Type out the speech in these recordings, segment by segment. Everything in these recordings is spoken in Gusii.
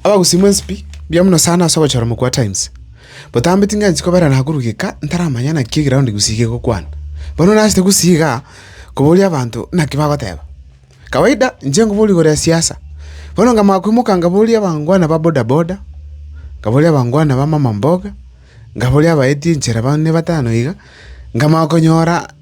Abagusi mwe nsipi mbuya mono sana ase ogochora mokwa Times. Botambe tingensi kobera nagurugeka ntaramanya naki egeroundi gusii gegokwana. Bono nachete gusii igaa koboria abanto naki bagoteba. Kawaida inche nkobori igoro ya siasa. Bono nkamanya koimoka nkaboria abangwana ba boda boda, nkaboria abangwana ba mama mboga, nkaboria abaeti enchera bane batano iga, nkamanya konyora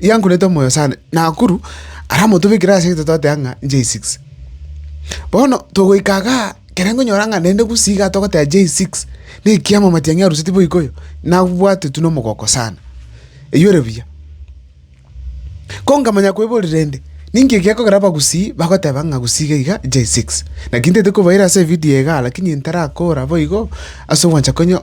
yankorete omoyo sana, Nakuru aramotobekire ase egento twateba ng'a J6. Bono togoika igaa, ekero nkonyora ng'a naende gusii igaa togoteba J6, na ekiama amatiang'i aruseti boikoyo, nabwate tu na omogoko sana. Eywo ere buya. Ko nkamanya koiborera rende, ninki egekogera abagusii bagoteba ng'a gusii iga iga J6? Naki ntete kobaira ase evidio igaa lakini ntarakora boigo ase ogwancha konyo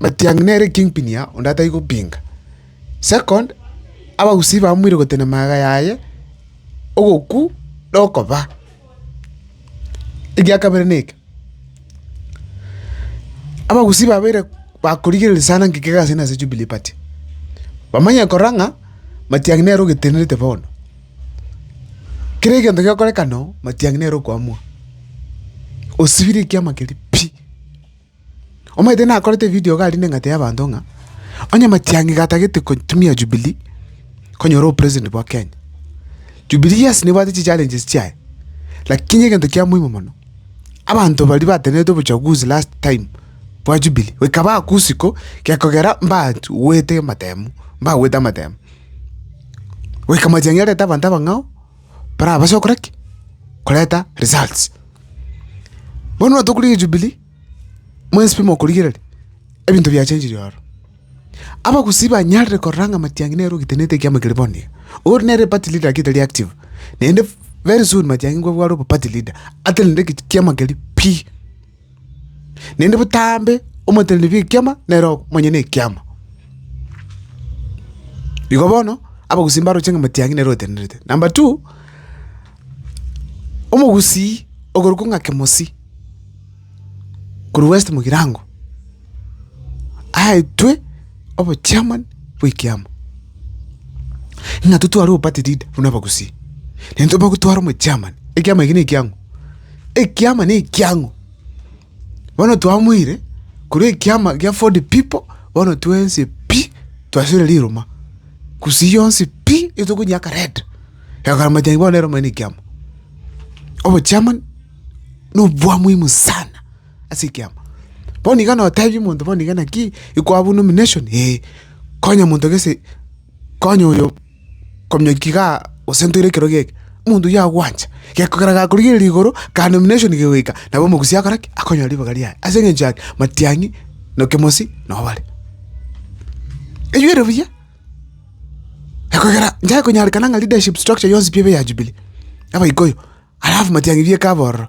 Matiang'i nere kingpin ya onde atai gopinga. Second, abagusii bamoire gotenema iga yaye, ogoku na okoba. Egia kabere na eke, abagusii babeire bakorigereria sana ng'ikio egasi ase na Jubilee party. Bamanye korora ng'a Matiang'i nere ogetenerete bono. Kera egento gegokorekana oo, Matiang'i nere okoamua. Osibire ekiama keria pi. Omanyete nakorete evidio iga arinde eng'ata y'abanto ng'a onye Matiang'i iga atagete gotumia Jubilee konyora obopresident bwa Kenya. Jubilee yes nebwate chichallenges chiaye, lakini egento kia moimo mono, abanto baria batenenerete obochaguzi last time bwa Jubilee goika baakwa usiku gekogera mbagwete amatemu, mbagwete amatemu. Goika Matiang'i arete abanto abang'ao. barabase gokora ki? Koreta results. Bono nabo tokorigia Jubilee, mwensipe mokorigereria, ebinto biachenchirie ororo. Abagusii banyarire korora ng'a Matiang'i nere ogetenete ekiama keria bono iga. Oria nere party leader lakini tari active, naende very soon Matiang'i nkwabware oba party leader, atenene ekiama keria pi. naende botambe omoteneneri bw'ekiama nere omonyene ekiama. Igo bono abagusii mbaroche ng'a motiang'i nere otenenerete. Number two, omogusii okorokwa ng'a Kemosii korwa West Mugirango. aetwe obochairman bw'ekiama, ng'a totware obo party leader buna abagusii, naende tobe gotwara omochairman, ekiama eke nekiang'u, ekiama nekiang'u. Bono twamoire korwa ekiama kia ford people, bono twensi pi twasibire riruma, gusii yonsi pi etokonyeaka red, ekegoka majani bono nere omonyene ekiama. Obochairman nobwamuhimu sana. ase ekiama. Bono iga notebi omonto bono iga naki ikwabua nomination ee, konya omonto gese konya oyo kominyokia igaa gose ntoire ekero geke, omonto oyio agwancha. Gekogera gakorigereria igoro ka nomination kegoika, nabo omogusia akore ki? Akonyora ribaga riaye ase eng'encho yaki? Matiang'i na Kemosi nabo bare. Eywo ere buya, gekogera inche konyarekana ng'a leadership structure yonsi pi ebe ya Jubilee, abaikoyo, alafu Matiang'i bieka abororo.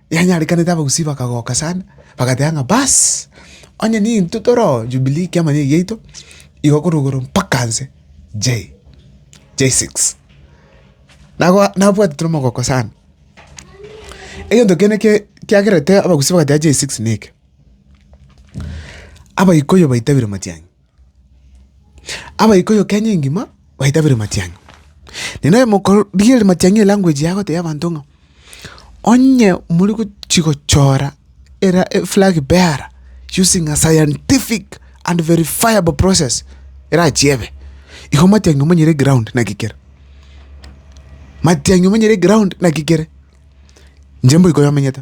Yanyarekanete abagusii bakagoka sana, bagateba ng'a baas, onye nintwe tore oo Jubilee ekiama nigo egiaito, igo korwa igoro mpaka nse Jay, J6. Nagoa nabwate tore omogoko sana, egento kende eke kiagerete abagusii bagateba J6 neke, abaikuyu baitabire matiang'i. Abaikuyu Kenya engima baitabire matiang'i. Naende aye mokorigia ere matiang'i elanguage yabo tebia abanto ng'a onye more gochia gochora era eflag bearer using a scientific and verifiable process erachie ebe, igo matiang'i omonyire eground naki kere. Matiang'i omonyire eground naki kere. Inche mboika oyio omenyete.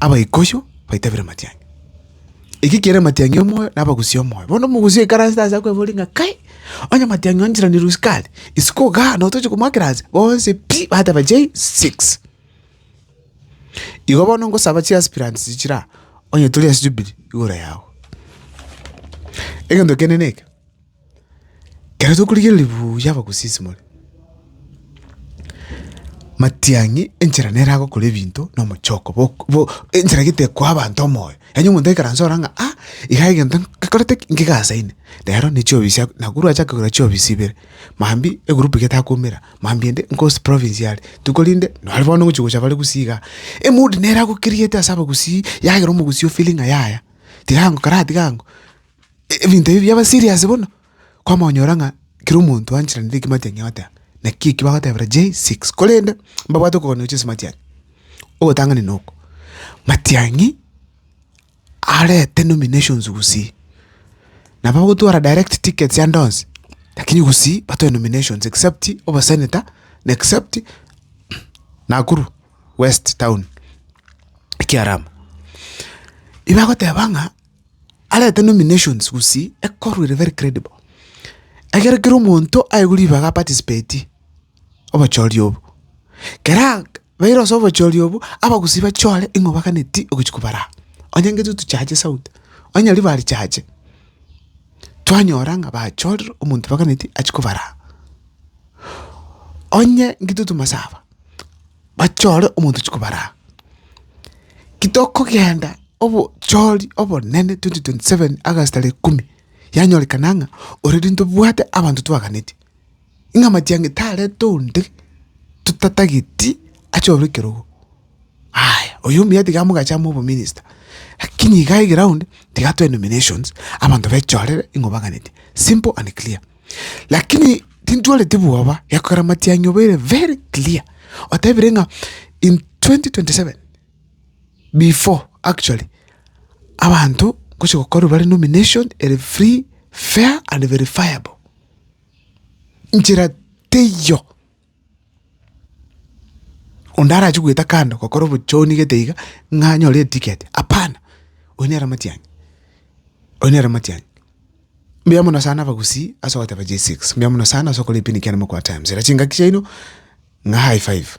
Abaikosho baite bire matiang'i, eki kere matiang'i omoyo na abagusi omoyo. Bono omogusi oikaransete ase akwebore ore ng'a kai, onye matiang'i o njirani rusia kare, isiko igaa na otoche komoakera ase, bonsi pi! bateba chei six. Igo bono ngosaba chi aspirants chichire aa, onye tore ase Jubilee, igoro yago. Egento kende neke. Ekero tokorigereria buya abagosisimore, matiang'i enchera nere agokora ebinto na omochoko bok bo enchera gete ekoa abanto omoyo. Yaani omonto aikaranse ore ng'a ah, iga egento ngekorete ki? Ngegasaine. Rero ne chiofisi ak na korwa acha kogera chiofisi ibere, mambia egroup iga etakoumera, mambia ende nkosi province yare, tu korende nonye bono ngochi gocha bare gusii igaa. Emood nere agokeriete ase abagusii, yagera omogusii ofeelinga yaya, tiga ango kara tiga ango, ebinto ebi biaba serious bono, kwamonyora ng'a kera omonto anchererenetie ekematiang'e agoteba naki eki bagotebera J6 korende mbabwate okoganerosia ase ematiang'e. Ogotang'ani na oko, matiang'i arete nominations gusii, nabo ogotwara direct tickets ande onsi lakini gusii batoe nominations except obosenator na except Nakuru West town, ekiarabwo. Ebagoteba ng'a. arete nominations gusii ekorwa ere very credible, egere kera omonto aigwe ribaga aparticipatie obochori obo. Keraa baire ase obochori obo, abagusii bachore ing'o baganeti ogochi kobara aa. Onye ngetu tochache sauti, onye nyaria barichache, twanyora ng'a bachorire omonto baganeti achia kobara aa. Onye ngetu tomasaba. bachore omonto chikobaraa. Kitokogenda obochori obonene 2027 August tarehe ikomi, yanyorekana ng'a already ntobwate abanto twaganetie, ng'a matiang'i tarete onde totatageti achore ekerogo. Aya, oyo omuya tiga mogacha amo obominista, lakini iga egraound tiga twae nominations, abanto bechorere ng'a obaganetie, simple and clear. Lakini tintwareti bwoba, gekogera amatiang'e obeire very clear, otebire ng'a in 2027 before actually abanto ngochia gokorwa bare nomination ere free, fair and verifiable. Nchera teiyo. Onde arache goeta kando gokora obochoni gete iga, ng'a anyore etiketi, hapana, oyio nere omatianyi, oyio nere omatianyi. Mbuya mono sana abagusii ase ogoteba J6, mbuya mono sana ase okora ebinto ebiya mokobua times, era chingaki chiaino ng'a high five.